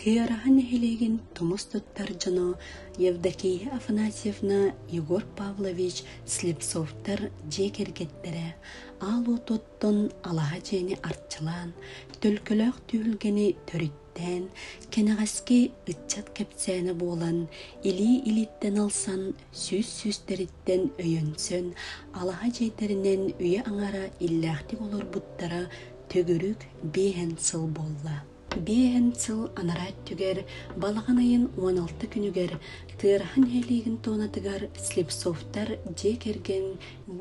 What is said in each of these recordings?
Туйараһа нэһилиэгин тумус туттар дьоно Евдокия Афанасьевна, Егор Павлович Слепцовтар дьиэ кэргэттэрэ аал отуттан алаһа дьиэни арчылаан, төлкөлөөх түһүлгэни төрүттээн, кэнэҕэски ыччат кэпсээнэ буолан, илии илииттэн ылсан сүүс-сүүстэриттэн өйөнсөн, алаһа чэйдэринэн үйэ-аҥара иллээхтик олорбуттара төгүрүк биэһэн сыл буолла. Биэһэн сыл анараа өттүгэр балаҕан ыйын уон алта күнүгэр тыараһа нэһилиэгин туонатыгар Слепцовтар дьиэ кэргэн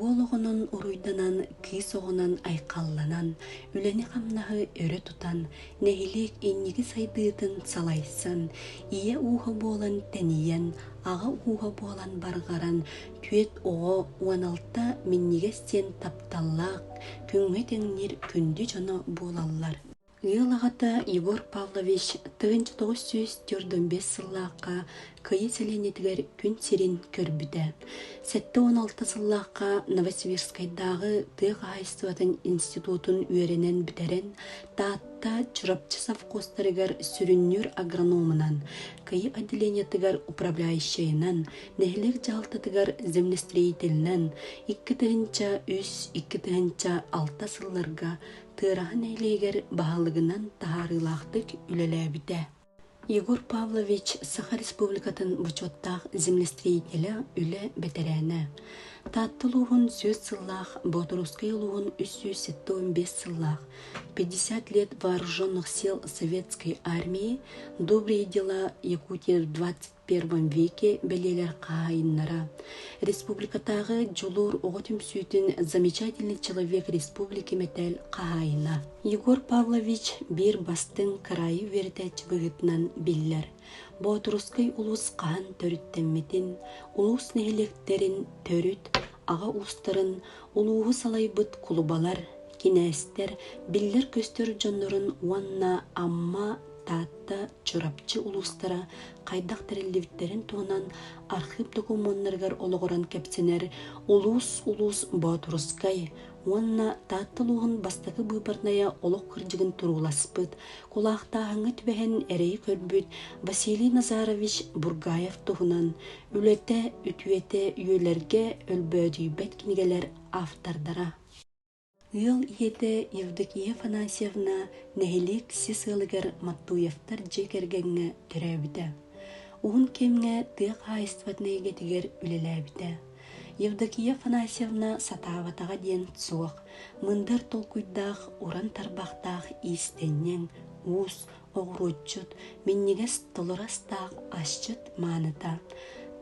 уол оҕонон уруйданан, кыыс оҕонон айхалланан, үлэни-хамнаһы өрө тутан, нэһилиэк инники сайдыытын салайсан, ийэ ууһа буолан тэнийэн, аҕа ууһа буолан барҕаран, түөрт оҕо уон алта минньигэс диэн тапталлаах, күҥҥэ тэҥниир күндү дьоно буолаллар. Ыал аҕата Егор Павлович тыһыынча тоҕус сүүс төрдөн биэс сыллаахха Кыйа сэлиэнньэтигэр күн сирин көрбүтэ. Сэттэ уон алта сыллаахха Новосибирскайдааҕы тыа хаһаайыстыбатын институтун үөрэнэн бүтэрэн, Таатта Чурапчы совхозтарыгар сүрүннүүр агрономунан, Кыйа отделениетыгар управляющайынан, нэһилиэк дьаһалтатыгар землестроительынан икки тыһыынча үс икки тыһыынча алта сылларга Тыараһа нэһилиэгэр баһылыгынан таһаарыылаахтык үлэлээбитэ. Егор Павлович Саха Республикатын бочуоттаах землестроителэ, үлэ бэтэрээнэ. Таатта улууһун сүөс сыллаах, Боотуруускай улууһун үс сүүс сэттэ уон биэс сыллаах, пятьдесят лет вооруженных сил Советской армии, добрые дела Якутии двадцать первом веке бэлиэлэр хаһайыннара, республикатааҕы Дьулуур оҕо түмсүүтүн замечательный человек республики мэтээл хаһайына Егор Павлович биир бастыҥ кыраайы үөрэтээччи быһыытынан биллэр. Боотурускай улуус хаһан төрүттэммитин, улуус нэһилиэктэрин төрүт аҕа уустарын, улууһу салайбыт кулубалар, кинээстэр биллэр-көстөр дьоннорун уонна Амма Таатта, Чурапчы улуустара хайдах тэриллибиттэрин туһунан архыып докумуоннарыгар олоҕуран кэпсэнэр улуус-улуус боотурускай уонна Таатта улууһун бастакы быыбарнайа олох кырдьыгын турууласпыт, кулаактааһыҥҥа түбэһэн эрэйи көрбүт Василий Назарович Бургаев туһунан үлэтэ, үтүөтэ үйэлэргэ өлбөөдүйбэт кинигэлэр автордара. Ыал ийэтэ Евдокия Афанасьевна нэһилиэк сис ыалыгар Маттуевтар дьиэ кэргэҥҥэ төрөөбүтэ. Уһун кэмҥэ тыа хаһаайыстыбатын эйгэтигэр үлэлээбитэ. Евдокия Афанасьевна сатаабатаҕа диэн суох, мындыр толкуйдаах, уран тарбахтаах иистэнньэҥ, уус, оҕуруотчут, минньигэс толоростаах асчыт мааныта.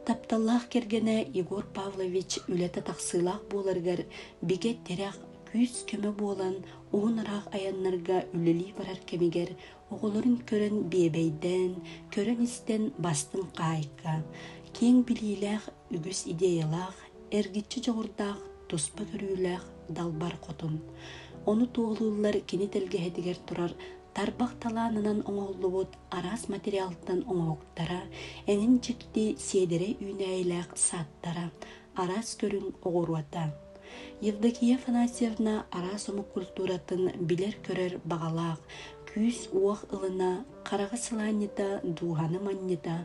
Тапталлаах кэргэнэ Егор Павлович үлэтэ тахсыылаах буоларыгар бигэ тирэх, күүс-көмө буолан уһун ыраах айаннарга үлэлии барар кэмигэр оҕолорун көрөн биэбэйдээн, көрөн-истэн бастыҥ хаайка, киэҥ билиилээх, үгүс идеялаах, эргиччи дьоҕурдаах, туспа көрүүлээх далбар хотун. Ону туоһулууллар кини тэлгэһэтигэр турар тарбах талаанынан оҥоһуллубут араас материалтан оҥоһуктара, эҥин дьикти сиэдэрэй үүнээйилээх сааттара, араас көрүҥ оҕуруота, Евдокия Афанасьевна араас омук культуратын билэр-көрөр баҕалаах, күүс-уох ылына, хараҕа сылаанньыта, дууһаны манньыта,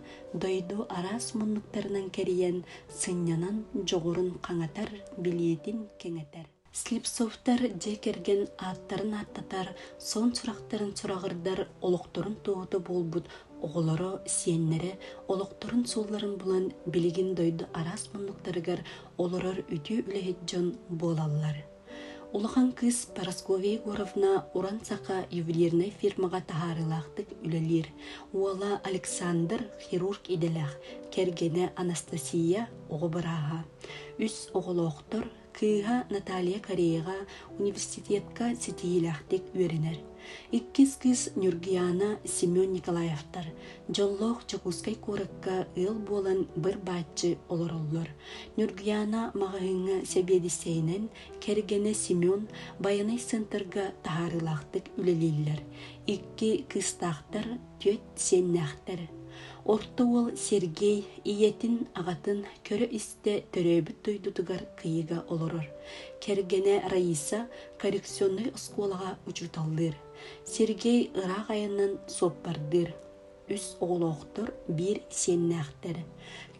дойду араас муннуктарынан кэрийэн, сынньанан дьоҕурун хаҥатар, билиэтин кэҥэтэр. Слепцовтар дьиэ кэргэн ааттарын ааттатар, сон сурахтарын сураҕырдар олохторун туоһута буолбут оҕолоро, сиэннэрэ олохторун суолларын булан билигин дойду араас муннуктарыгар олорор үтүө үлэһит дьон буолаллар. Улахан кыыс Парасковья Егоровна уран саха ювелирнай фирмаҕа таһаарыылаахтык үлэлиир. Уола Александр хирург идэлээх, кэргэнэ Анастасия оҕо бырааһа. Үс оҕолоохтор, Кыыһа Наталья Кореяҕа университетка ситиһиилээхтик үөрэнэр. Иккис кыыс Нюргиана Семен Николаевтар дьоллоох Дьокуускай куоракка ыал буолан быр-бааччы олороллор. Нюргиана маҕаһыыҥҥа сэбиэдиссэйинэн, кэргэнэ Семен байанай центрга таһаарыылаахтык үлэлииллэр. Икки кыыстаахтар түөрт сиэннээхтэр. Орто уол Сергей ийэтин, аҕатын көрө-истэ төрөөбүт дойдутугар кыйыга олорор. Кэргэнэ Раиса коррекционнай оскуолаҕа учууталлыыр. Сергей ыраах айаннан суоппардыыр. Үс оҕолоохтор, биир сиэннээхтэр.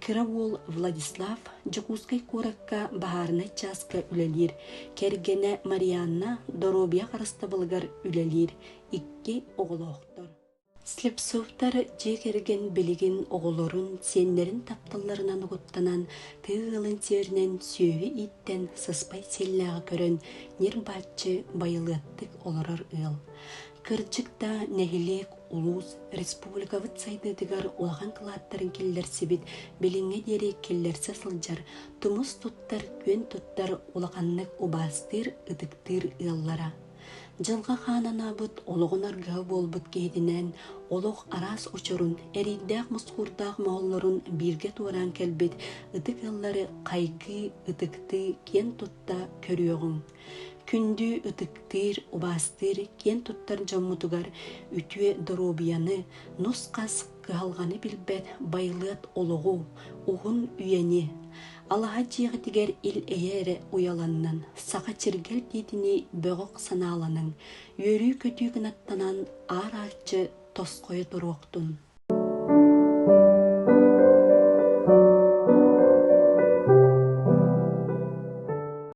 Кыра уол Владислав Дьокуускай куоракка баһаарынай чааска үлэлиир. Кэргэнэ Марианна доруобуйа харыстабылыгар үлэлиир. икки оҕолоохтор. Слепцовтар дьиэ кэргэн билигин оҕолорун, сиэннэрин тапталларынан угуттанан, тыа ыалын сиэринэн сүөһү ииттэн сыспай сиэллээҕи көрөн ньир-баччы байылыаттык олорор ыал. Кырдьык да нэһилиэк, улуус, республикабыт сайдыытыгар улахан кылааттарын киллэрсибит билиҥҥэ диэри киллэрсэ сылдьар, тумус туттар, күөн туттар улаханнык убаастыыр, ытыктыыр ыаллара. Дьылҕа хаан анаабыт, олоҕун аргыһа буолбут киһитинээн олох араас очорун, эриирдээх-мускуурдаах мооллорун бииргэ туораан кэлбит ытык ыаллары хайгыы, ытыктыы, киэн тутта көрүөҕүҥ. Күндү ытыктыыр, убаастыыр киэн туттар дьоммутугар үтүө доруобуйаны, нус-хас кыһалҕаны билбэт байылыат олоҕу, уһун үйэни, Алаһа дьиэҕитигэр ил эйэ эрэ уйаланнын, саха чиргэл диитинии бөҕөх санааланыҥ, үөрүү-көтүү гынаттанан аар-ааччы тосхойо туруохтун.